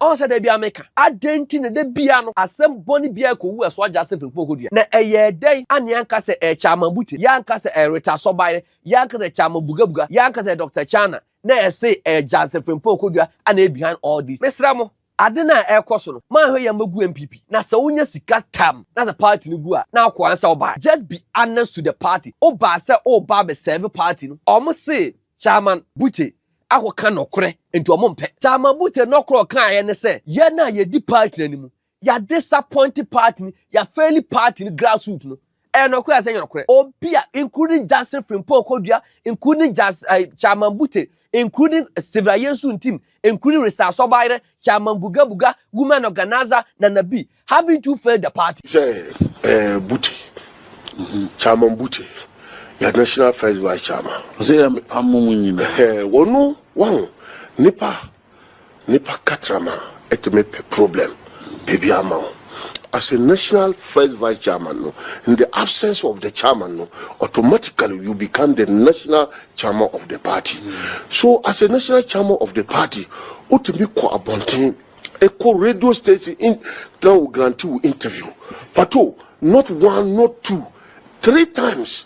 ɔn sɛ da bia meka adɛn nti na da bia no asɛm bɔne bia ɛkɔwu ɛso agya sɛ fimpo kɔdua na ɛyɛ dɛn ane anka sɛ ɛkyɛ ama bute yɛ anka sɛ ɛreta sɔbaeɛ yɛ anka sɛ ɛkyɛ ama bugabuga yɛ anka sɛ dr chana na ɛse ɛyɛ Jansen Frimpong Kodua a na behind all this mesrɛ mo ade no a ɛrekɔ so no manhwɛ yɛn mma gu NPP na sɛ wonya sika tam na sɛ party no gu a na akɔ ansa wobae just be honest to the party wobaa sɛ woba abɛ serve party no ɔmo se Chairman Bute akɔka nɔkorɛ nti ɔmo mpɛ Chairman Bute nɔkorɛ ɔkaeɛ ne sɛ yɛn a yɛdi party no anim yɛ disappoint party ni yɛ fail party ni grassroots no ɛyɛ nɔkorɛ asɛ nyɛ nɔkorɛ obi a including Justin Frimpong Kodua including Jas uh, Chairman Bute including Stephen Ayensu Ntim including Risa Asobayere Chairman Buga Buga women organizer Nana B haven't you failed the party sɛ eh, Bute mhm, Chairman Bute yɛ national first vice chairman ɔsɛ yɛ amom nyina eh, wɔno wɔn nipa Nipa katrama ɛtumi pɛ problem baabi ama wo as a national first vice chairman no in the absence of the chairman no automatically you become the national chairman of the party so as a national chairman of the party wotumi kɔ abɔnten kɔ radio station in na wo grante wo interview pato not one not two three times.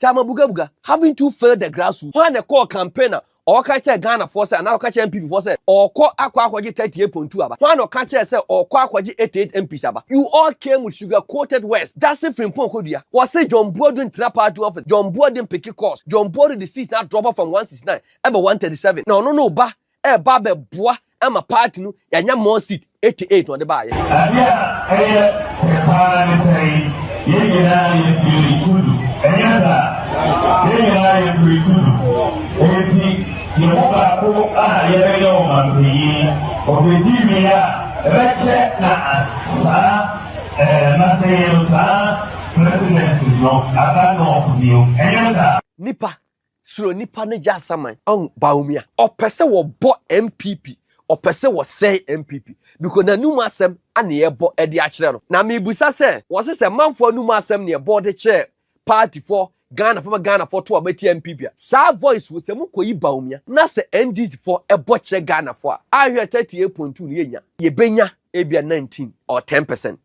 Tama Bugabuga, having too failed the grassroots, hwan na ɛkɔɔ campaign a ɔka kyerɛ Ghanafoɔ sɛ anaa ɔka kyerɛ NPP foɔ sɛ ɔkɔ akɔ akɔgye 38.2 aba? Hwan na ɔka kyerɛ sɛ ɔkɔ akɔgye 88 MPs aba? You all came with sugar coated words, Gyasi Frimpong Kodua, wɔse John Boadu ntena party office, John Boadu mpeke course, John Boadu de seat no adrɔpɔ from 169 ɛba 137, na ɔno ne wo ba ɛreba abɛboa ama party no yɛanya more seat 88 na ɔde baayɛ. Ade a ɛyɛ fɛ paa ne sɛ yɛn nyinaa yɛ firi tudu ɛnyɛ saa yɛn nyinaa yɛ firi tudu enti yɛn mu baako a yɛbɛyɛ ɔmanpanyin ɔbɛdi mi a ɛbɛkyɛ na saa ɛɛ masɛyɛ no saa presidency no aba nɔɔfo bio ɛnyɛ saa. Nipa Suro nnipa no gya asaman. Ɔn Bawumia. Ɔpɛ sɛ wɔbɔ NPP. Ɔpɛ sɛ wɔsɛe NPP. Because n'anum asɛm na yɛbɔ de akyerɛ no. Na mebisa sɛ, wɔse sɛ manfoɔ anum asɛm na yɛbɔ de kyerɛ partyfoɔ, Ghanafoɔ ma Ghanafoɔ to a wɔatia NPP a, saa voice wei sɛ mokɔyi Bawumia na sɛ NDCfoɔ bɔ kyerɛ Ghanafoɔ a, ahwɛ 38.2 no yɛnya? Yɛbɛnya ebia 19 or 10%.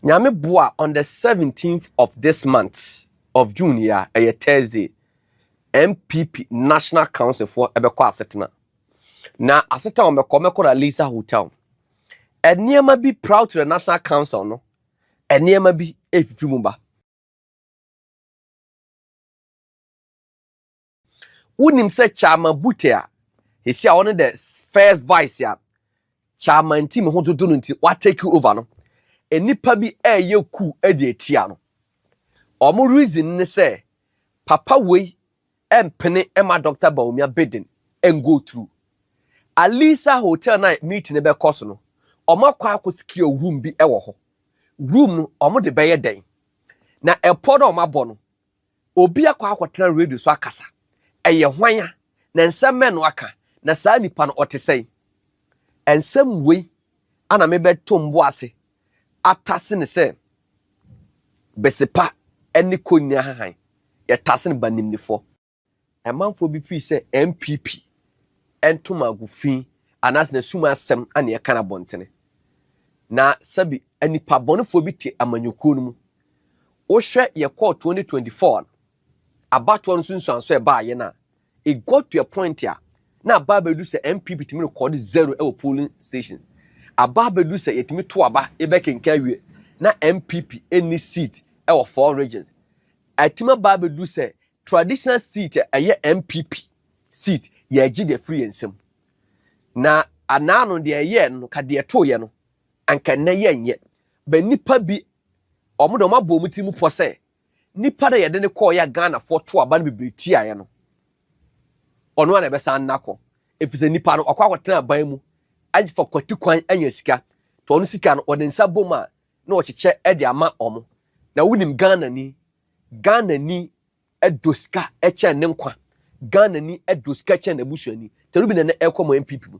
Nyame boa on the seventeenth of this month of June yi a, ɛyɛ Thursday, NPP National Council foɔ ɛbɛkɔ asetena. Na asetena wɔn bɛkɔ, wɔbɛkɔ na Lisa Hotel. Nneɛma bi proud to the National Council no, nneɛma bi ɛfifiri mu ba. Wonim sɛ Chairman Bute a esi a ɔne the first vice a Chairman team ho dodo no nti watake over no, nnipa bi ɛreyɛ ku de atia no. Wɔn reason ne sɛ papa wei ɛmpene ɛma Dr. Bawumia bidding ɛngo through. Alisa hotel na meeting no bɛkɔ so no, wɔn akɔ akɔ secure room bi ɛwɔ hɔ. Room no wɔn de bɛyɛ dɛn? Na ɛpɔ na wɔn abɔ no, Obi akɔ akɔtena radio so akasa. Ɛyɛ hwan a, na nsɛm bɛn na waka, na saa nipa no ɔte sɛn? Nsɛm wei ana mebɛtom bo ase atase no sɛ bese pa ne konya hann, yɛtase no banimdifoɔ. Amanfoɔ bi firi sɛ NPP ntom agu fi anaasɛ n'asum asɛm na ɛka no abɔntene. Na sɛbi nnipa bɔnefoɔ bi te amanyɔkuo no mu. Wohwɛ yɛkɔɔ 2024 no, abatoɔ no nso nsuanso a ɛbaa yɛn a, it got to a point a na abaa bɛdu sɛ NPP tumi rekɔde zero wɔ polling station. Abaa bɛdu sɛ yɛtumi to aba yɛbɛkenkan awie na NPP ɛnni seat wɔ four regions. Atumi abaa bɛdu sɛ Traditional seat a ɛyɛ NPP seat yɛgye deɛ firi yɛn nsam na anaa no deɛ ɛyɛɛ no ka deɛ ɛtoeɛ no anka nnɛ yɛnyɛ bɛ nnipa bi wɔn deɛ wɔn abɔ wɔn tiri mu pɔ sɛ nnipa na yɛde no kɔɔyɛ a Ghanafoɔ to aba no bebree tiaeɛ no ɔno a na ɛbɛsan nna kɔ ɛfiri sɛ nnipa no ɔkɔ akɔtena aban mu afa kwati kwan anya sika to ɔno sika no ɔde nsa bom a na ɔkyekyɛ de ama wɔn na wonim Ghana ni Ghana ni dɔ sika kyɛn ne nkwa. Ghana ni dɔ sika kyɛn n'abusuani. Terubi na ɛnɛ ɛkɔ mo NPP mu.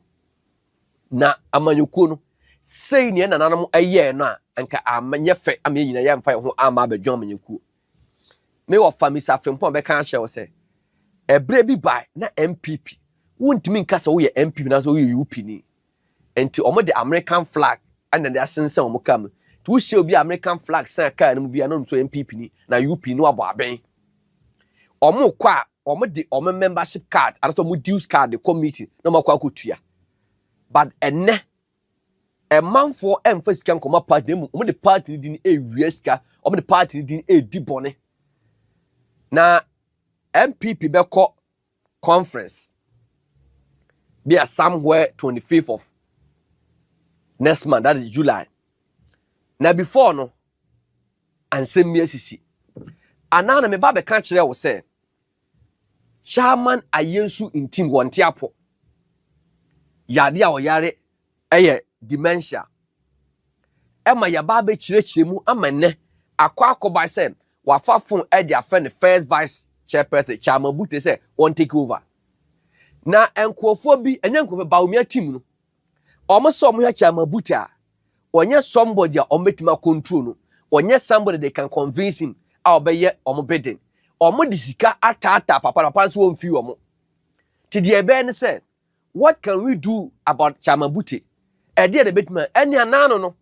Na amanyɔkuo no, sei neɛ nananom ɛyɛɛ no a, anka anyɛ fɛ ama yɛn nyina yɛ amfa yɛn ho ama abɛdwo amanyɔkuo. Me wɔfa Mr. Frimpong bɛka akyerɛ wo sɛ, ɛberɛ bi bae na NPP, wontumi nka sɛ woyɛ NPP na sɛ woyɛ UP ni. Nti ɔmo de American flag na de asensɛn ɔmo car mu. Nti wo hyɛ obi American flag sɛn car no mu bi a na ɔnim sɛ ɔyɛ NPP ni na UP ni na wabɔ abɛn. Ɔmo kɔ a ɔmo de ɔmo membership card anasɛ ɔmo dues card de kɔ meeting na ɔmo akɔ akɔtua. But ɛnɛ ɛmanfoɔ ɛmfa sika nkɔma party na mmom ɔmo de party no din ɛwia sika ɔmo de party no din ɛdi bɔne na NPP bɛkɔ conference bi a somewhere twenty fifth of next month that is july na before no ansɛm bi asisi anaa na meba bɛka kyerɛ wo sɛ chairman ayɛ nsu ntim wɔnte apɔ yade a ɔyare ɛyɛ dementia. Ɛma yɛaba abɛkyerɛkyerɛ mu ama nnɛ akɔ akɔba sɛ wafa fon de afrɛ ne first vice chairperson Chairman Bute sɛ wɔn take over. Na nkurɔfoɔ bi, ɛnyɛ nkurɔfoɔ, Bawumia team no, wɔn sɛ wɔn hwɛ Chairman Bute a, wɔnyɛ somebody a wɔn bɛtumi akontrol no, wɔnyɛ somebody they can convince him a wɔbɛyɛ wɔn bidding. Wɔn de sika ataataa papa na papa nso wɔn mfi wɔn. Ti deɛ ɛbɛyɛ ne sɛ, What can we do about Chairman Bute? Ɛdeɛ na ɛbɛtumi a ɛne anaano no.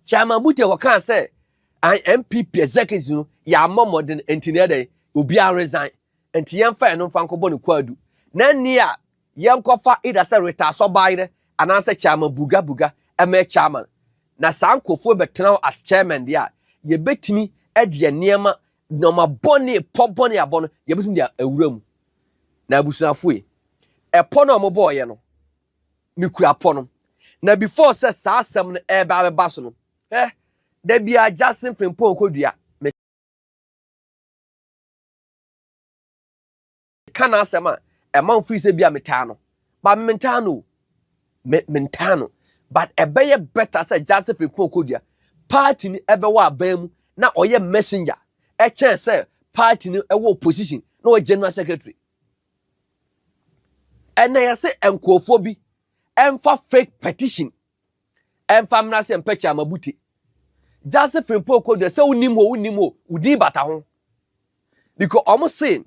Chairman Bute wɔkaa sɛ NPP executives no yɛammɔ mmɔden nti na ɛdɛn obiara resign nti yɛmfa ɛno mfa nkɔbɔ no kwaadu na nni a yɛnkɔfa either sɛ Rita Asɔbaayerɛ anaasɛ Chairman Buga Buga ɛmɛ chairman na saa nkurɔfoɔ bɛtena hɔ as chairman deɛ a yɛbɛtumi ɛdeɛ nneɛma nneɛma bɔne, pɔ bɔne a abɔ no, yɛbɛtumi de awura mu. Na abusuafo yi, ɛpɔ no a wɔbɔɔyɛ no, mekura pɔ no. Na before sɛ saa asɛm no ɛreba abɛba so no, ɛ da biara Jackson Frimpong kɔdua. ka n'asɛm a ɛma mfiri sɛ bia metaa no ba mentaa no me mentaa no but ɛbɛyɛ better sɛ Joseph Mpon Kodua party ni ɛbɛwɔ aban mu na ɔyɛ messenger ɛkyɛn sɛ party ni ɛwɔ opposition na ɔyɛ general secretary ɛnna yɛsɛ nkurɔfoɔ bi ɛnfa fake petition Ɛmfa mmra sɛ mpɛkyɛ ama bute. Gyase firimpoo kɔ dua sɛ wonim hɔ wonim hɔ wo din bata ho. Because ɔmo se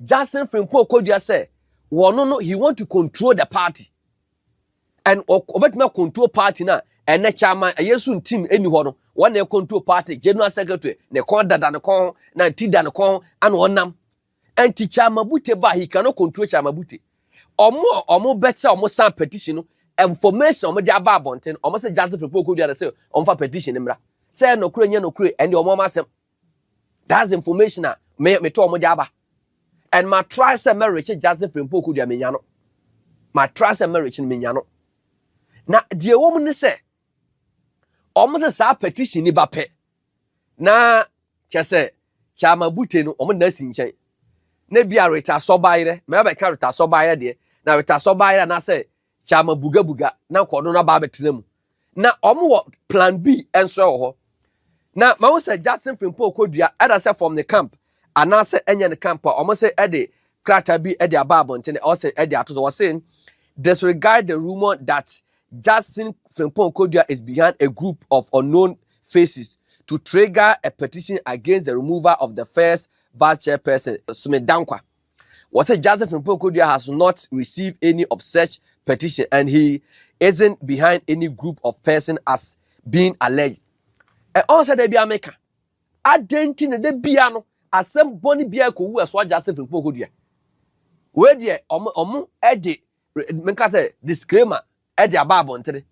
Jackson firimpoo kɔ dua sɛ wɔno no he want to control the party. And ɔbɛtumi control party na ɛnɛ chairman ɛyɛ so ntim ɛni hɔ no wɔn na control party general secretary ne kɔn dada ne kɔn na ti da ne kɔn ana ɔnam Ɛnti Kyamabute ba he cannot control Kyamabute. Ɔmo a ɔmo bɛkyɛ ɔmo san petition no information ɔmo de aba abɔnten no ɔmo sɛ Justice Frimpong Okoduare sɛ ɔmo fa petition no mmra. Sɛ ɛyɛ nɔkorɛ nyɛ nɔkorɛ ɛnde ɔmo ɔmo asɛm. That's the information a me me to ɔmo de aba. And ma try sɛ mɛ rekye Justice Frimpong Okoduare me nya no. Ma try sɛ mɛ rekye no me nya no. Na deɛ ɛwɔ mu ne sɛ ɔmo sɛ saa petition ni ba pɛ na kyɛ sɛ Kyama Bute no wɔn nna si nkyɛn na bi a Rita Sɔbaayerɛ mɛ abɛka Rita Sɔbaayerɛ deɛ na Rita Sɔbaayerɛ anaasɛ Kyama Buga Buga na nkɔ no na ba abɛtena mu na wɔn wɔ plan B nso wɔ hɔ na ma wɔn sɛ Jackson Frimpong Kodua ɛda sɛ fam ne camp anaasɛ ɛnyɛ ne camp a wɔn sɛ ɛde krataa bi ɛde aba abɔnten na ɔsɛ ɛde ato so wɔsɛ disregard the rumour that Jackson Frimpong Kodua is behind a group of unknown faces to trigger a petition against the removal of the first vice chairperson Sumit Dankwa. Wɔsɛ Joseph Mpokodua has not received any of such petition and he isn't behind any group of person as being alleged. Ɛwɔ sɛ da bia meka adɛn nti na da bia no asɛm bɔne bia ɛkɔwu ɛsoa Joseph Mpokodua. Wei deɛ ɔmo ɔmo ɛde meka sɛ disclaimer de aba abɔnten.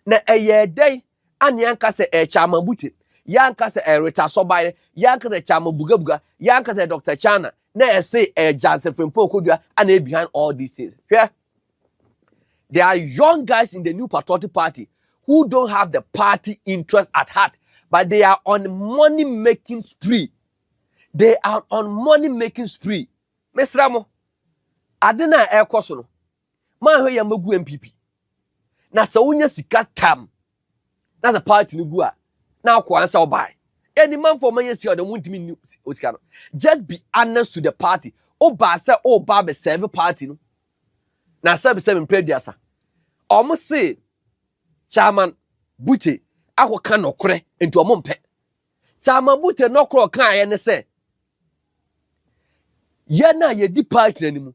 Na ɛyɛɛ dɛn? Anne anka sɛ ɛrekyɛ ama Bute. Yɛanka sɛ ɛyɛ Rita Sobaire. Yɛanka sɛ ɛkyɛ ama Bugabuga. Yɛanka sɛ ɛyɛ Doctor Chana. Na ɛse ɛyɛ Janse Frimpong Kodua ana ɛyɛ behind all these things. Hwɛ! There are young guys in the New Patriotic Party who don't have the party interest at heart, but they are on money making spree. They are on money making spree. Mesra mo, ade no a ɛrekɔ so no, Manhwɛ yɛ magu MPP. Na sɛ wonya sika tam na sɛ party no gu a na akɔ ansa ɔbae. Ɛni manfo ɔman yɛ sika ɔdɛ ɔmo ntumi nni osika no. Just be honest to the party. Ɔbaa sɛ ɔba abɛ serve party no. Na sɛbi sɛ mempɛ aduasa. Ɔmo se Chairman Bute akɔ ka nɔkorɛ nti ɔmo mpɛ. Chairman Bute nɔkorɛ ɔkaeɛ ne sɛ yɛn a yɛdi party no anim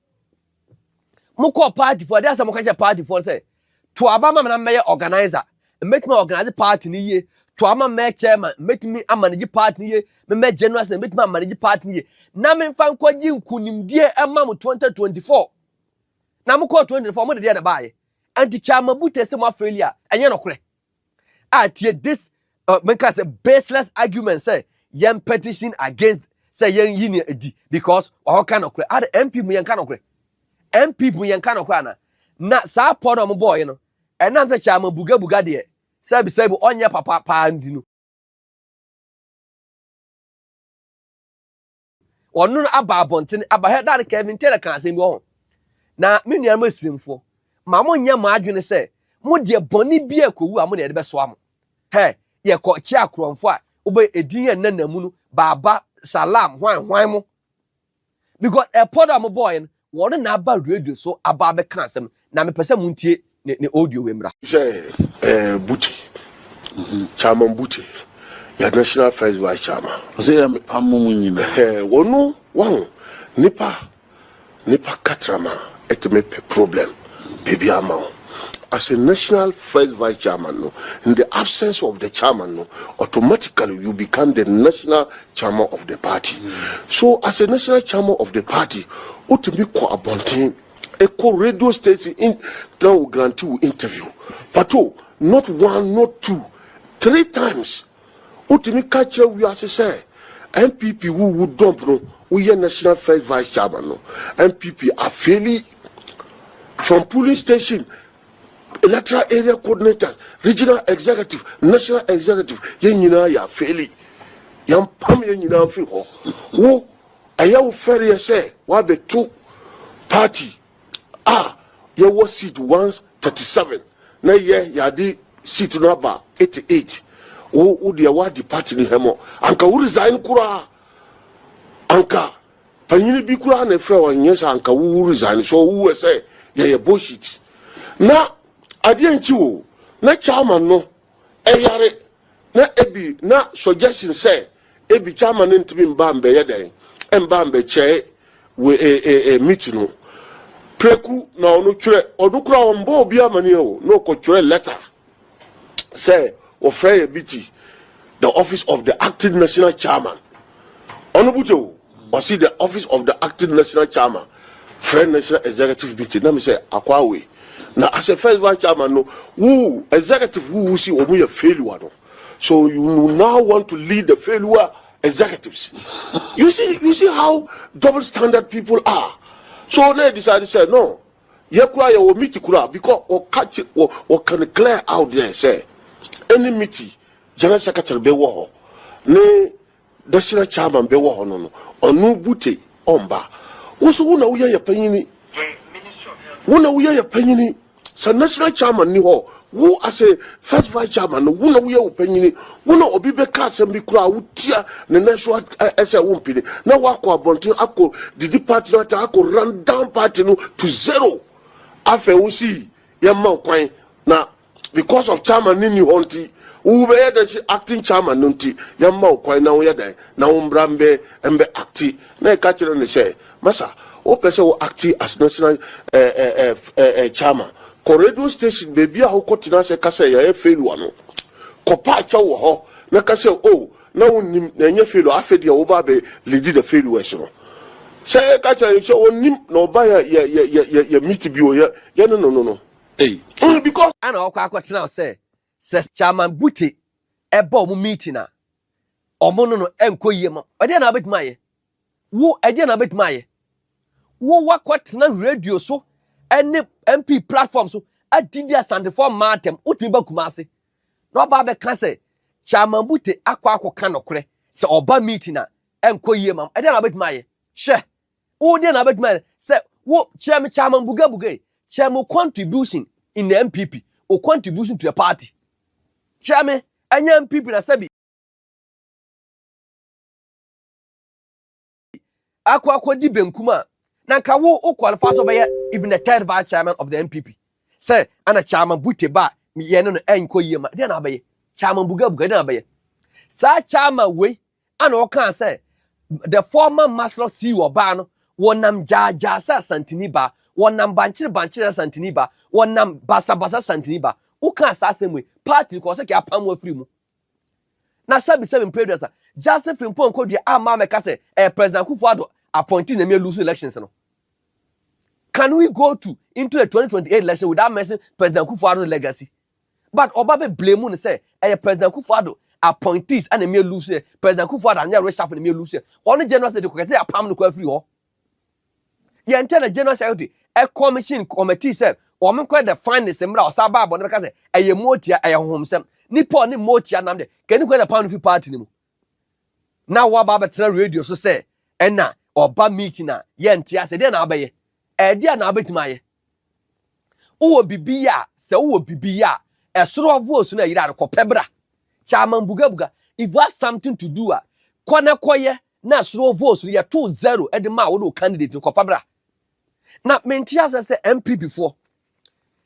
mokɔɔ party fo a ɛdeɛ sɛ moka kyerɛ party fo sɛ to aba ma me na mɛyɛ organizer mɛtumi organize party no yie to ama mɛ chairman mɛtumi amanage party no yie memɛ general sɛ mɛtumi amanage party no yie na memfa nkɔgye nkonimdie ɛma mo 2024 na mokɔɔ 2024 mo de deɛ na baayɛ anti kyama bute sɛ mo afeeli a ɛnyɛ nokorɛ a tie this uh, menka sɛ baseless argument sɛ yɛn petition against sɛ yɛn yi ne adi because wɔka nɔkorɛ ada mp mu yɛnka nɔkorɛ mp mu yɛnka nɔkorɛ ana na saa pɔ na wɔn bɔɔyɛ no ɛnam sɛ kyɛ ama bugabuga deɛ sɛbi sɛbi ɔnyɛ papa paa ndi no ɔno no aba abɔnten aba hɛ daa no kevin taylor ka asɛm bi wɔ ho na me nuanom asirimfoɔ ma mo nyɛ mo adwene sɛ mo deɛ bɔne bi a kɔwu a mo na yɛde bɛsoa mo hɛ yɛkɔ kye akorɔmfo a wobɛ edin yɛ nna na mu no baaba salam hwan hwan mo because ɛpɔ da mo bɔɔɛ no Wɔde no aba radio so aba abɛka asɛm na mepɛ sɛ montie ne ne audio wei mmra. Sɛ eh, Bute, Chairman Bute, yɛ National First Vice Chairman. Ɔsɛ yɛ mepam mo mu nyina. Eh, wɔno wahu nipa nipa katrama ɛtumi pɛ problem baabi ama wo. As a National First Vice Chairman no, in the absence of the chairman no, automatically you become the National chairman of the party so as a national chairman of the party wotumi kɔ abɔnten ɛkɔ radio station in na wo grante wo interview pato not one not two three times wotumi ka kyerɛ wiase sɛ npp wowu dɔmp no woyɛ national first vice chairman no npp afeli from polling station electoral area coordinators regional executive national executive yɛn nyinaa yɛ afeeli yɛn pam yɛn nyinaa firi hɔ wo ɛyɛ wo fɛreɛ sɛ wabɛto party a yɛwɔ seat 137 na yɛ yɛade seat no aba 88 wo wo deɛ wadi party no hɛmɔ anka wo resign koraa anka Panyin bi koraa na efrɛ wɔn nyɛ saa anka wowu resign so owu ɛsɛ yɛyɛ bullshit na adeɛ nkyi o na chairman no ɛyare na ebi na suggestion sɛ ebi chairman no ntumi mba mbɛyɛ dɛn mba mbɛkyɛe wɔ e e e meet no preku na ɔno twerɛ ɔno koraa ɔmbɔ obi amaneɛ o na ɔkɔ twerɛ letter sɛ wɔfrɛ yɛ bi ti the office of the acting national chairman ɔno bute o ɔsi the office of the acting national chairman frɛ national executive meeting na mi sɛ akɔ awe na as a first vice chairman no wuu executive wuu si wɔn yɛ failure no so you now want to lead the failure executives you see you see how double standard people are so na yɛ decide sɛ no. yɛ kura yɛ wɔ miti kura because wɔka kye wɔ wɔka no clear out there sɛ ɛne miti general secretary bɛ wɔ hɔ ne dɛsira chairman bɛ wɔ hɔ no no ɔno bute ɔmba woso wo na woyɛ yɛ panyini wo na woyɛ yɛ panyini sɛ national chairman ni hɔ Wo as a first vice chairman no, wo na woyɛ wo panyini, wo na obi bɛka asɛm bi koraa a wotia ne nan so sɛ wompene na woakɔ abɔnten akɔ didi party no atɛn akɔ run down party no to zero. Afei wo se yɛmma wo kwan na because of chairman no nni hɔ nti wobɛyɛ dɛn se acting chairman no nti yɛmma wo kwan na woyɛ dɛn na wo mmra mbɛ acte na yɛka kyerɛ no sɛ Masa, wo pɛ sɛ wo acte as national ɛɛɛɛɛɛ chairman, kɔ radio station baabi a wo kɔ tena ase ka sɛ yɛayɛ failure no, kɔ pa kyɛw wɔ hɔ na ka sɛ oh na wo nnim na ɛnyɛ failure afei deɛ wo ba abɛ leadi the failures no. Sɛ ka kyerɛ no sɛ ɔnnim na ɔba yɛ yɛ yɛ yɛ yɛ meet bi o yɛ yɛ ne no no no ei, because. Ana ɔkɔ akɔ tena ase Sɛ Chairman Bute ɛba ɔmo meeting a, ɔmo no no ɛnkɔ yie ma. Ɛdeɛ na abɛtumi ayɛ? Wo ɛdeɛ na abɛtumi ayɛ? Wo wakɔ tena radio so ɛne MP platform so adidi asantefoɔ mmaa atɛm. Wotumi ba Kumasi na ɔba abɛka sɛ Chairman Bute akɔ akɔka nokorɛ sɛ ɔba meeting a ɛnkɔ yie ma. Ɛdeɛ na abɛtumi ayɛ? Hwɛ Wo deɛ na abɛtumi ayɛ sɛ wo kyerɛ me kyama mbugabuga yi kyerɛ me contribution in the MPP o contribution to the party kyerɛ me ɛnyɛ MPP na sɛbi akɔ akɔ di benkum a na nka wo wo qualify sɛ ɔbɛyɛ even the third vice chairman of the MPP sɛ ana kyama bute ba yɛne no ɛnkɔ yie ma deɛ na abɛyɛ kyama mbugabuga deɛ na abɛyɛ saa kyama wei Ɛna ɔkaa sɛ, the former master of sea ɔbaa no, wɔnam gyaagyaa sɛ asantini baa, wɔnam bankyere bankyere sɛ asantini baa, wɔnam basabasa asantini baa. Wokaa saa asɛm wei, party kɔ sɛ kɛ apam wo afiri mu. Na sɛbi sɛbi mpredua sa, Justin Frimpong kɔdua a maa mɛka sɛ ɛyɛ President Akufo Addo appointee na ɛmɛ lose elections no. Can we go to into the 2028 election without mentioning President Akufo Addo's legacy? but ɔba bɛ blame no sɛ ɛyɛ president akufo ado appointees ɛna mmea lose yɛ president akufo ado anyɛ reshuffle na mmea lose yɛ ɔno general sɛ de kɔkɛ sɛ apam no kɔ afiri hɔ yɛn nkyɛn na general secretary ɛ commission committee sɛ wɔn nkɔ the finest mmra ɔsa baa bɔ no bɛka sɛ ɛyɛ motia ɛyɛ honhomsɛm nipa ɔne motia nam de kɛni kɔ na pam no fi party no mu na wɔaba abɛtena radio so sɛ ɛna ɔba meeting a yɛnte ase deɛ na abɛyɛ ɛdeɛ na abɛtumi ayɛ wowɔ bibi ya sɛ wowɔ bibi ya ɛsoro ɔvoos na yira no kɔpɛ bra kyama mbugabuga if you have something to do a kɔ na kɔyɛ na ɛsoro ɔvoos no yɛto zero ɛde ma wo de wo candidate no kɔfa bra na mente asɛ sɛ mpp foɔ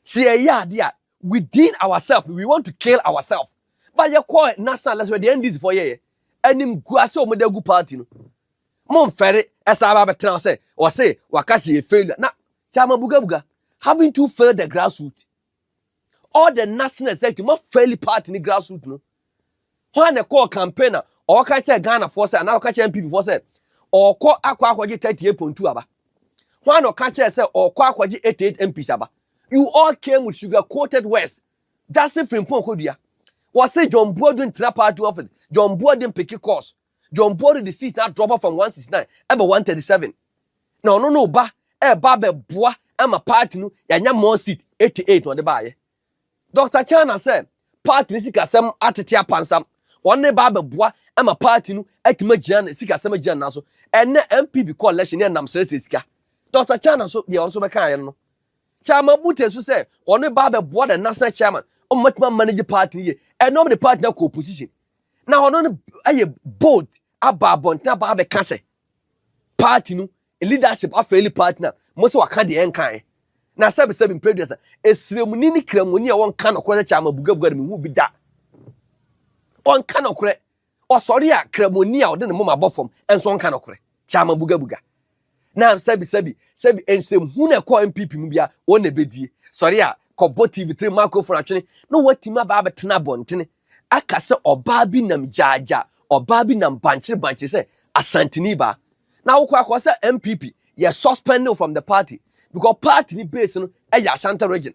sɛ yɛyɛ ade a within ourselves we want to kill ourselves ba yɛkɔ national lɛsɛ deɛ ndc foɔ yɛyɛ anim gua sɛ wɔde agu party no Mo nfɛre ɛsan ba bɛtena hɔ sɛ wɔse waka sɛ yɛ failure na kyɛ ama bugabuga haven't you failed the grassroot all the national executive ma fail party ne grassroot no hɔ a na ɛkɔɔ campaign a ɔka kyɛ Ghana foɔ sɛ anaa ɔka kyɛ NPP foɔ sɛ ɔkɔ akɔ akɔgye 38.2 aba hɔ a na ɔka kyɛ sɛ ɔkɔ akɔgye 88 MPs aba you all came with sugar coated words just firi mpɔn kɔdua wɔse John Buodu ntena party office John Buodu mpeke course John Bori de seat na drop from 169 ɛbɛ 137 na ɔno no ba ɛba abɛboa ɛma party no yɛanya more seat 88 na ɔde baayɛ Dr. China sɛ party no sikasɛm atete apansam wɔn ne ba abɛboa ɛma party no atumi agyina ne sikasɛm agyina ne nan so ɛnɛ MPB kɔ election yɛ nam srɛsrɛ sika Dr. China nso deɛ ɔno nso bɛka ayɛ no Chairman Bute nso sɛ ɔne ba abɛboa the national chairman ɔmatumi amanage party no yie ɛnɛ ɔmo de party no akɔ opposition na ɔno no ayɛ bold aba abɔnten aba abɛka sɛ party no leadership afɛli party na mo sɛ waka deɛ ɛnkae na sɛbisɛbi mpreduasa esremuni ne kramuni a wɔnka nɔkorɛ sɛ kyama bugabuga no mehu bi da ɔnka nɔkorɛ ɔsɔre a kramuni a ɔde ne moma bɔ fam ɛnso ɔnka nɔkorɛ kyama bugabuga na sɛbi sɛbi sɛbi nsɛm hu na ɛkɔ npp mu bia wɔn na ɛbɛdie sɔre a kɔbɔ tv tiri microphone atwene na wɔatumi aba abɛtena abɔntene aka sɛ ɔbaa bi nam gyaagya ɔbaa bi nam bankyere bankyere sɛ asantini baa na wokɔ akɔ sɛ npp yɛ suspending from the party because party ni base no ɛyɛ ashanti region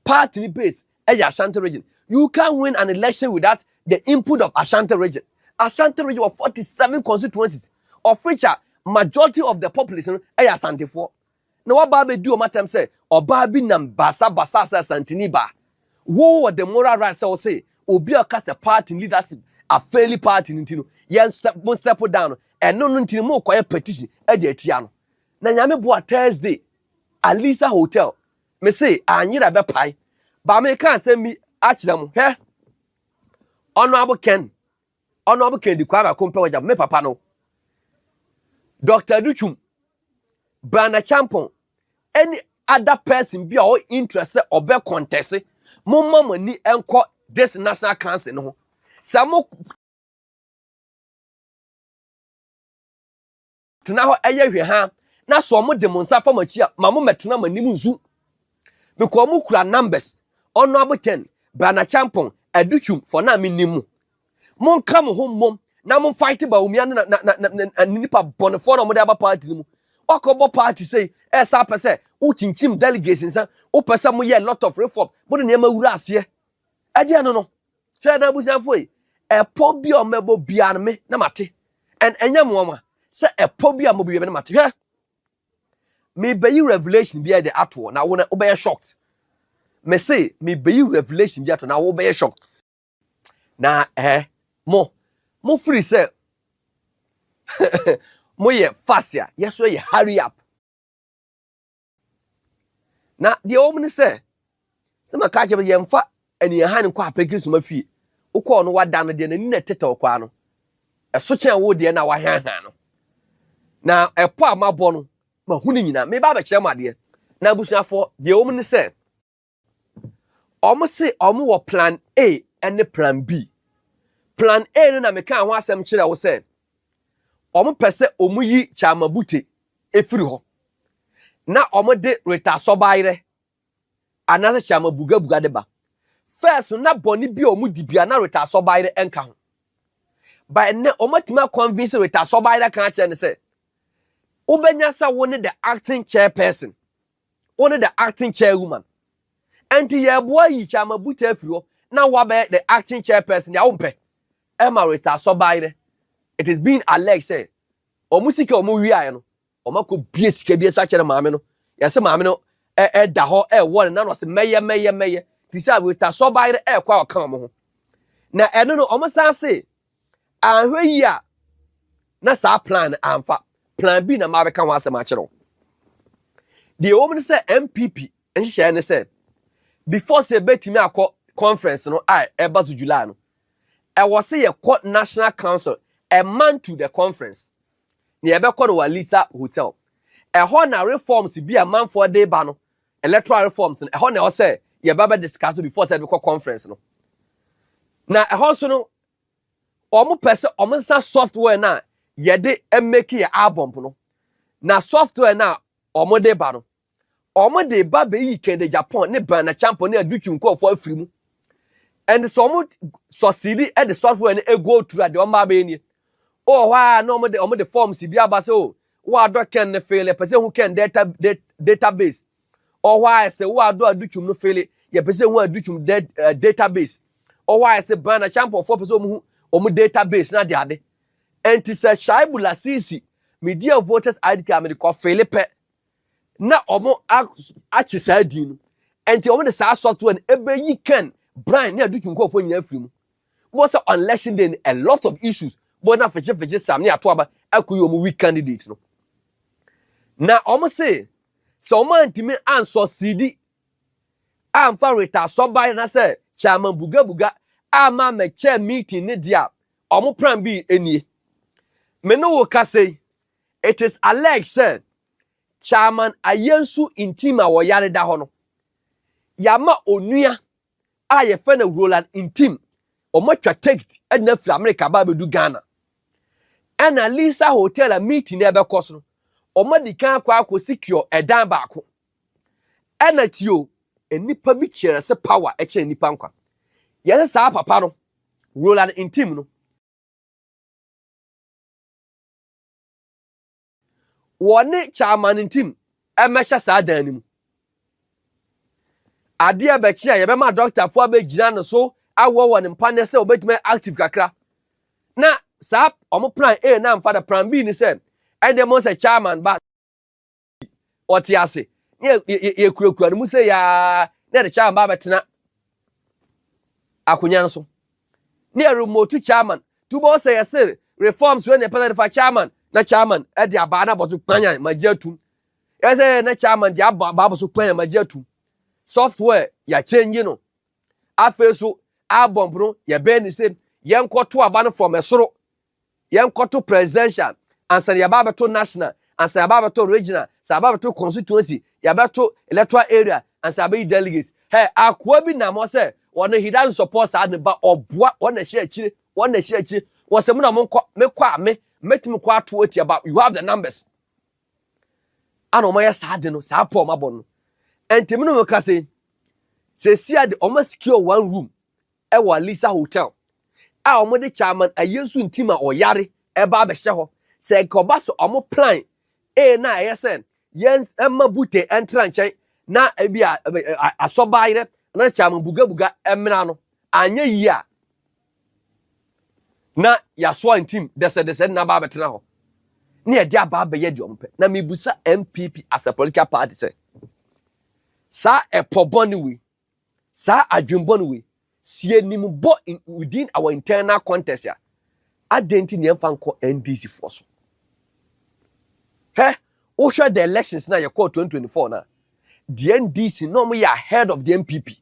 party ni base ɛyɛ Asante region. You can win an election without the input of Asante region. Asante region wɔ 47 constituencies of which a majority of the population no ɛyɛ Asantefoɔ. Na wabaa bɛdi wɔn atɛm sɛ ɔbaa bi nam basa basa sɛ Asantini baa. Wo wɔ the moral right sɛ wo se obi a ɔka sɛ party leadership a faili party no nti no yɛn step mo step down no ɛno no nti no mo kɔyɛ petition ɛde atia no. Na nyame boa Thursday Alisa hotel Me se anyera bɛpae. Ba meka asɛm bi akyerɛ mo. Hwɛ. Honorable Ken. Honorable Ken di kwa mako mpɛ wagya me papa no. Dr. Duchum. Brana Champon. Any other person bi a ɔ interest sɛ ɔbɛ contest. Mo mma mo ani nkɔ this national council no ho. Sɛ mo tena hɔ yɛ hwɛha na sɛ wɔn de mo nsa fa mo akyi a ma mo mɛtena mo anim nsu because wɔn kura numbers ɔno abotɛn brana champon adutwum for na menim mo mo nka mo ho mmom na mo fight ba omia ne na na na na nipa bɔnefoɔ na wɔn de aba party no mu wakɔ bɔ party sɛ ɛsa pɛ sɛ wokyinkyim delegates nsa wopɛ sɛ mo yɛ lot of reform mo de nneɛma wura aseɛ ɛdeɛ no no Hwɛ na abusuafo yi, ɛpɔ bi a wɔbɛbɔ bia no me na mate. And ɛnyɛ mo nwa sɛ ɛpɔ bi a wɔbɔ bia me na mate. Hwɛ, mebeyi revelation bi de ato na wo na wobɛyɛ shocked. Me se mebeyi revelation bi ato na wobɛyɛ shocked. Na eh mo mo firi sɛ mo yɛ fast a, yɛso yɛ hurry up. na deɛ ɛwɔ mu ne sɛ sɛ maka akyerɛ sɛ yɛmfa aniahan nkɔ apɛrɛkye soma fie wokɔɔ no wada no deɛ n'ani na ɛtetɛ ɔkɔa no ɛso kyɛn wo deɛ na wahanhan no na ɛpɔ a mabɔ no mahu no nyinaa meba abɛkyerɛ mu adeɛ na abusuafoɔ deɛ ɛwɔ mu ne sɛ wɔn se wɔn wɔ plan A ne plan B. Plan A no na mekaa ho asɛm kyerɛ wo sɛ wɔn pɛ sɛ wɔn yi Kyamabute efiri hɔ na wɔn de Rita Sɔbaayerɛ anaasɛ Kyamabugabuga de ba. First na bɔne bi a wɔn di bia na Rita Sɔbaayerɛ nka ho. By ne wɔn atumi akɔnvinsi Rita Sɔbaayerɛ kan akyerɛ ne sɛ wobɛnya sɛ wo ne the acting chairperson. Wone the acting chairwoman. Ɛnti yɛboa yi Kyama Buta afiri hɔ na wabɛyɛ the acting chairperson deɛ wompɛ. Ɛma Rita Asɔbae nɛ. It is being alleged sɛ wɔn sika wɔn wiaeɛ no wɔn akɔ bie sika bi nso akyerɛ maame no. Yɛse maame no ɛ ɛda hɔ ɛwɔ ne nan ɔse mɛyɛ mɛyɛ mɛyɛ. Ti sɛ Rita Asɔbae no ɛkɔ a ɔka wɔn ho. Na ɛno no wɔn san se Anhwɛ yie a, na saa plan no amfa. Plan B na mabɛka ho asɛm akyerɛ wo. Deɛ ɛwɔ mu ne sɛ NPP nhyehyɛeɛ ne sɛ before sɛ ɛbɛtumi akɔ conference no a ɛba so July no, ɛwɔ sɛ yɛkɔ National Council a month to the conference na yɛbɛkɔ no wɔ Alisa Hotel. Ɛhɔ na reforms bi a manfoɔ de ba no, electoral reforms no, ɛhɔ na ɛwɔ sɛ yɛba bɛ discuss no before sɛ ɛbɛkɔ conference no. Na ɛhɔ nso no, wɔpɛ sɛ wɔn nsa software no a yɛde mmeki yɛ album no na software no a wɔde ba no wɔde ba bɛyi kɛde japan ne bana champo ne adutu nkurɔfoɔ afiri mu ɛnde sɛ wɔn sɔsidi de software no ego tura deɛ wɔn ba bɛyɛ nie wɔ hɔ a na wɔde wɔde forms bi aba sɛ o Woadɔ kɛn no fele, yɛpɛ sɛ ehu kɛn data database. Ɔhɔ a ɛsɛ woadɔ adutwum no fele, yɛpɛ sɛ ehu adutwum eh, database. Ɔhɔ a ɛsɛ ban na kyampɔfoɔ pɛ sɛ wɔn hu wɔn database na de ade. Ɛnti sɛ Shaibu Lasisi, medi a voters ID card mede kɔ fele pɛ na wɔn akye saa din no. Ɛnti wɔn de saa software no ɛbɛyi kɛn ban ne adutwum nkurɔfoɔ nyinaa afiri mu. Mo sɛ on election day a lot of issues mo na fegye fegye sam ne ato aba akɔ yi wɔn weak candidate no na wɔn se sɛ wɔn antumi ansɔ sidi amfa reta sɔban na sɛ chairman buga buga ama mɛkyɛ meeting ne deɛ a wɔn plan bi nie me ne wo kasa yi it is alleged sɛ chairman ayɛnsu ntim a wɔyare da hɔ no yɛama onua a yɛfrɛ no Roland Ntim. Wɔatwa tekit de no afiri Amerika aba abɛdu Ghana. Ɛna Lisa Hotel a meeting no ɛbɛkɔ so no, wɔadi kan akɔ akɔ secure ɛdan baako. Ɛna tio, nnipa bi kyerɛ sɛ power ɛkyerɛ nnipa nkwa. Yɛsɛ saa papa no, Roland Ntim no, wɔne Chairman Ntim mmɛhyɛ saa dan no mu. Adeɛ bɛkye a yɛbɛma dɔktafoɔ abɛgyina no so awɔ wɔn mpaneɛ sɛ wɔbɛtumi active kakra. Na saa wɔn plan A na mfa da plan B ni sɛ ɛdeɛ mo sɛ Chairman ba ɔte ase ne yɛkurakura no mu sɛ yaa ne yɛde Chairman ba abɛtena akonnwa no so ne ɛremotu chairman tubɔ sɛ yɛse reforms wei na ɛpɛ sɛ ɛdefa chairman na chairman ɛde abaa na abɔto kpanyan magye atum ɛsɛ na chairman de aba abɔ so kpanyan magye atum software yɛakyɛngye no afei so abɔmpono yɛbɛn ne sɛ yɛnkɔto aba no fam ɛsoro Yɛnkɔto presidential ansa na yɛaba abɛto national ansa yɛaba abɛto regional sɛ aba abɛto constituency yɛabɛto electoral area ansa abɛyi delegates hɛ akoa bi nam hɔ sɛ wɔn he doesn't support saa ne ba ɔboa wɔn na ɛhyɛ akyire wɔn na ɛhyɛ akyire wɔsɛ mu na wɔn nkɔ mekɔ a me mɛtumi kɔ ato atia ba you have the numbers ana wɔn ayɛ saa de no saa pɔ wɔn abɔ no ɛntɛmi no wɔn ka sɛ sɛsi ade wɔn secure one room ɛwɔ Alisa Hotel a wɔde Chairman Ayensu Ntima ɔyare ɛba abɛhyɛ hɔ sɛ nka ɔba so wɔn plan a na ɛyɛ sɛ yɛn ɛma Bute ɛntra nkyɛn na ebi a asɔba ayerɛ na Chairman Bugabuga ɛmena no anyɛ yie a na yasoa ntim dɛsɛdɛsɛ na ba abɛtena hɔ ne yɛde aba abɛyɛ deɛ wɔn pɛ na mebusa NPP as a political party sɛ saa ɛpɔ bɔne wei saa adwembɔ no wei si anim bɔ within our internal contest a adɛn nti nea ɛmfa nkɔ ndc foɔ so hɛ wohwɛ the elections na yɛkɔɔ 2024 na deɛ ndc na wɔyɛ ahead of the mpp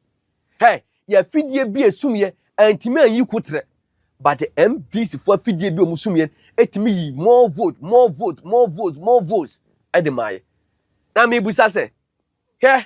hɛ yɛ afidie bi esumyɛ antumi anyi kutrɛ but the mdc foɔ afidie bi a wɔn sumyɛ etumi yi more vote more vote more vote more votes ɛde maa yɛ na mebusa sɛ hɛ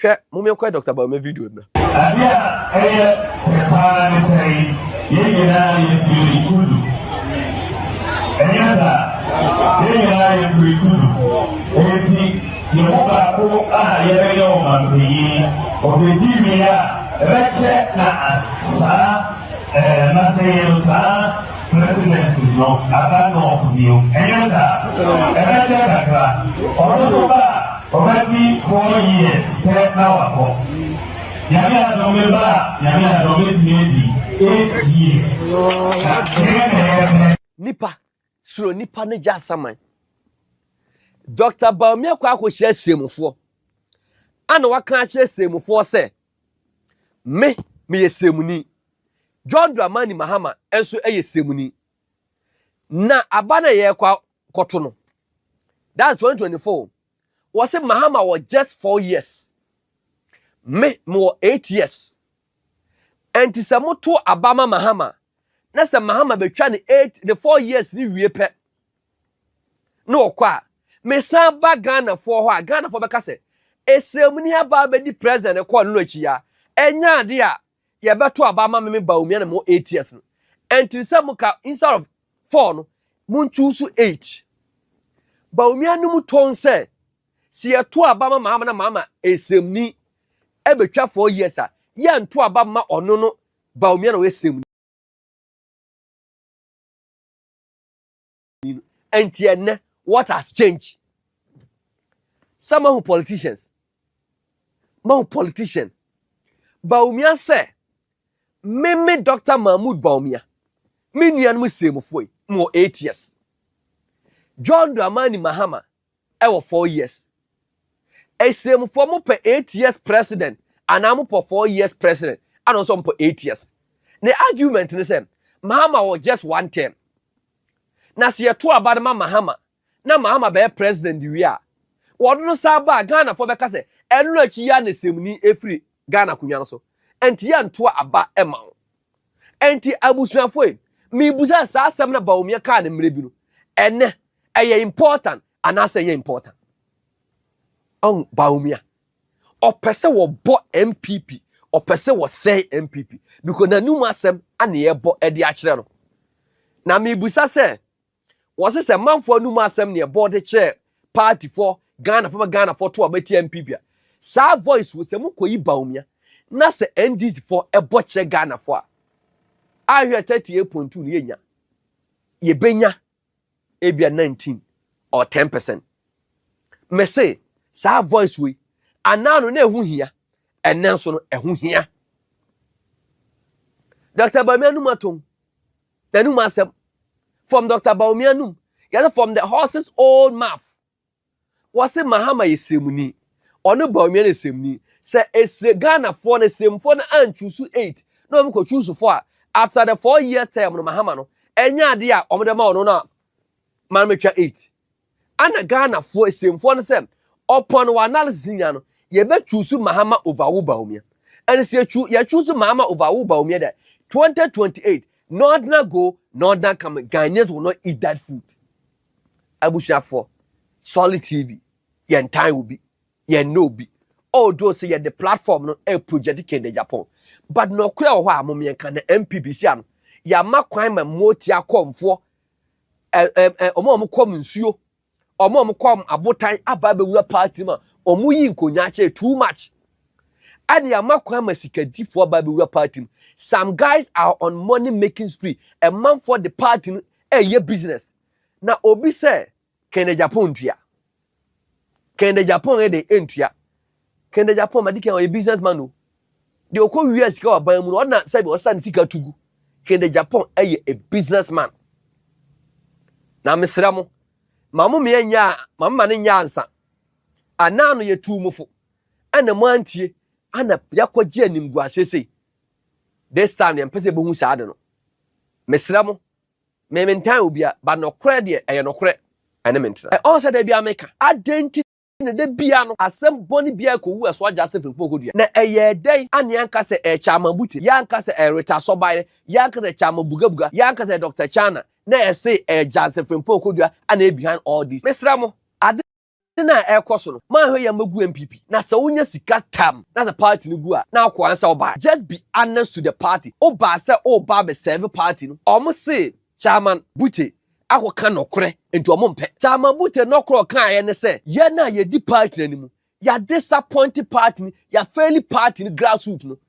Hwɛ, momenkɔyɛ Doctor Bawumia video yi mmra. Adeɛ a ɛyɛ fɛ paa ne sɛ yɛn nyinaa yɛ firi tudu. Ɛnyɛ saa? Yɛn nyinaa yɛ firi tudu. Enti yɛn mu baako a yɛbɛyɛ ɔmanpanyin, ɔbɛdi mi a ɛbɛkyɛ na as saa ɛɛ nasɛyɛ no saa presidency no aba nɔɔfo bio. Ɛnyɛ saa? Ɛbɛkyɛ kakra. Ɔno nso ba a Ɔbɛdi four years pɛ na wakɔ. Nyame adom me ba a Nyame adom bɛtumi adi eight years pɛpɛɛpɛ. Nipa suro nipa no gya asaman. Doctor Bawumia kɔ akɔhyia Seemufoɔ ana waka akyerɛ Seemufoɔ sɛ me meyɛ Seemuni, John Dramani Mahama nso yɛ Seemuni. Na aba no a yɛrekɔ akɔto no, that's 2024. Wɔse Mahama wɔ just four years. Me, mewɔ eight years. Ɛnti sɛ moto aba ma Mahama, na sɛ Mahama bɛtwa ne eight, ne four years ne wie pɛ, na ɔkɔ a, mesan ba Ghanafoɔ hɔ a, Ghanafoɔ bɛka sɛ, ɛsɛmuni aba bɛdi president kɔɔ no no akyi a, ɛnyɛ adeɛ a yɛbɛto aba ama me me Baomia na mewɔ eight years no ɛntene sɛ mo ka instead of four no mo ntu so eight Baomia no mu tɔn sɛ sɛ yɛto aba ma maama na maama ɛsrɛmni ɛbɛtwa four years a yɛnto aba ma ɔno no Baomia na ɔyɛ srɛmni ni no ɛnti ɛnɛ what has changed sɛ mahu politicians mahu politician baumia sɛ meme dr mahmood baumia me nuanom siremfoɔ yi mewɔ eight years john dramani mahama wɔ four years asiemfoɔ mo pɛ eight years president anaa mo pɔ four years president ana ɔsɔ mo pɔ eight years ne argument ne sɛ mahama wɔ just one term na sɛ yɛto aba no ma mahama na mahama bɛyɛ president wie a wɔde no saa ba a ghanafoɔ bɛka sɛ ɛno akyi yɛ a na asiemni efiri Ghana akonwa no so nti yɛ ntoa aba ma wo nti abusuafoɔ yi mebu sɛ saa asɛm na Bawumia kaa no mmerɛ bi no ɛnɛ ɛyɛ important anaasɛ ɛyɛ important ɔn Bawumia ɔpɛ sɛ wɔbɔ MPP ɔpɛ sɛ wɔsɛe MPP because n'anum asɛm ana yɛbɔ ɛde akyerɛ no na mebusa sɛ Wɔse sɛ manfoɔ anum asɛm neɛ bɔ de kyerɛ party fɔ Ghana fɔ ma Ghana fɔ to a bɛtia MP bia saa voice wo sɛ mokɔ yi Bawumia na sɛ NDC fɔ ɛbɔ kyerɛ Ghana fɔ a ahwɛ 38.2 no yɛnya yɛbɛnya ebia 19 or 10 percent mese saa voice wei anaa no na ɛho hia ɛnɛ nso no ɛho hia Dr. Bawumia no matom N'anom asɛm, From Doctor Bawumia nom, yɛse from the horse's own mouth. Wɔse Mahama yɛ sremuni. Ɔne Bawumia ne sremuni. Sɛ esre Ghanafoɔ no, sremfoɔ no anchuusu eight na wɔn kɔ chuusu four a, after the four year term no Mahama no, ɛnyɛ adeɛ a wɔn de ma ɔno no a, ma no metwa eight. Ana Ghanafoɔ asiemfoɔ no sɛ ɔpɔn wɔ analysis nya no yɛbɛ choose Mahama over wo Bawumia and sɛ yɛ choose Mahama over wo Bawumia dɛ 2028 Northerner go Northerner come Ghanaians will not eat that food Abusuafoɔ Solid TV yɛn tan obi yɛn nnɛ obi although sɛ yɛde platform no ɛ project kende Japan but nɔkorɛ wɔ hɔ a momeɛnka na MPBC ano yɛama kwan ma mmoɔ ti akɔmfoɔ ɛɛ wɔn a wɔkɔm nsuo wɔn a wɔkɔm abotan aba abɛwura paati mu a wɔyi nkonnwa akyɛ too much ɛna yɛama kwan ma sikadifoɔ aba abɛwura paati mu some guys are on money making spree ɛmanfoɔ de paati no ɛyɛ business na obi sɛ Kɛndɛ Japan ntua. Kɛndɛ Japan yɛ dɛ ntua. Kɛndɛ Japan madi kan ɔyɛ business man o. De ɔkɔ wia sika wɔ aban mu no ɔna sɛbi ɔsa ne sika tugu. Kɛndɛ Japan ɛyɛ a business man. Na mesrɛ mo ma mo mmea nyɛ a ma mo ma no nyɛ ansa. Ana ano yɛ tuu mo fo. Ɛna mo antie ana yɛakɔgye animguaseɛ sei. This time yɛmpɛ sɛ yɛbɛhu saa ade no. Mesrɛ mo Me mentan obia but nokorɛ deɛ ɛyɛ nokorɛ ɛne me ntena. Ɔn sɛ da bia meka adɛn nti na da bia no asɛm bɔne bia ɛkɔwu ɛso agya asɛ firi mpɔnkɔ dua na ɛyɛɛ dɛn ane yɛanka sɛ ɛyɛ Chaama Bute yɛanka sɛ ɛyɛ Rita Asɔbaeɛ yɛanka sɛ Chaama Buga Buga yɛanka sɛ ɛyɛ Doctor Chana na ɛse ɛyɛ Gyanse firi mpɔnkɔ dua ana ɛyɛ behind all this mesrɛ mo ade ne na ɛkɔ so no manhwɛ yɛ magu npp na sɛ wonya sika tam na sɛ party no gu a na akɔ ansɛ wobae just be honest to the party wobaa sɛ woba abɛ serve party no ɔmo se chairman bute akɔ ka nɔkorɛ nti ɔmo mpɛ chairman bute nɔkorɛ ɔkaeɛ ne sɛ yɛn a yɛdi party no anim yɛadisappoint party no yɛafɛli party no grassroot no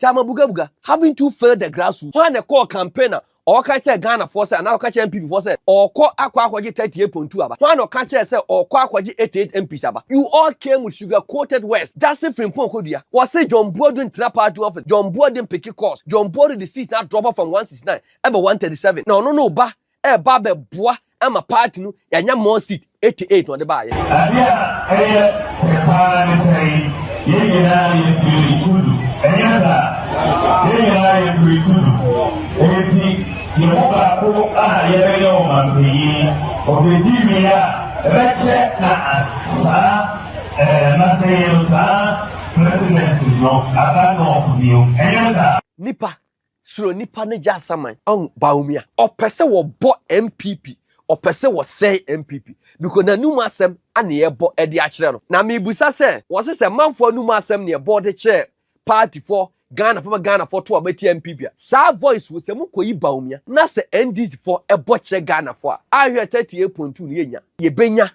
Tseama Bugabuga, having too failed the grassroots, hɔn na ɛkɔɔ campaign a ɔkã kyerɛɛ Ghanafoɔ sɛ anaa ɔkã kyerɛɛ NPP foɔ sɛ ɔɔkɔ akɔ akɔgye thirty eight point two aba, hɔn na ɔkã kyerɛɛ sɛ ɔɔkɔ akɔgye eighty eight MPs aba, you all came with sugar coated words, Gyasi Frimpong Kodua, wɔse John Boadu ntra party office, John Boadu mpeke course, John Boadu de seat no adrɔpɔ from one sixty nine ɛba one thirty seven, na ɔno no ba ɛreba abɛboa ama party no yɛanya more seat 88 na ɔde baayɛ. Ade a ɛyɛ fɛ paa ne sɛ yɛn nyinaa yɛ firi tudu ɛnyɛ saa yɛn nyinaa yɛ firi tudu eti yɛn mu baako a yɛbɛyɛ ɔmanpanyin ɔbɛdi mi a ɛbɛkyɛ na saa ɛɛ masɛ yɛn saa presidency no aba nɔɔfo bio ɛnyɛ saa. Nipa Suro nnipa no gya asaman. Ɔn Bawumia. Ɔpɛ sɛ wɔ bɔ NPP. Ɔpɛ sɛ wɔ sɛe NPP. Because n'anum asɛm na yɛ bɔ de akyerɛ no. Na me busa sɛ, wɔ se sɛ manfoɔ anum asɛm na yɛ bɔ de kyerɛ party foɔ, Ghana foɔ ma Ghana foɔ to a bɛtia NPP a, saa voice wo sɛ mo kɔ yi Bawumia. Na sɛ NDC foɔ bɔ kyerɛ Ghana foɔ a, ahwɛ 38.2 no yɛ nya. Yɛ bɛ nya.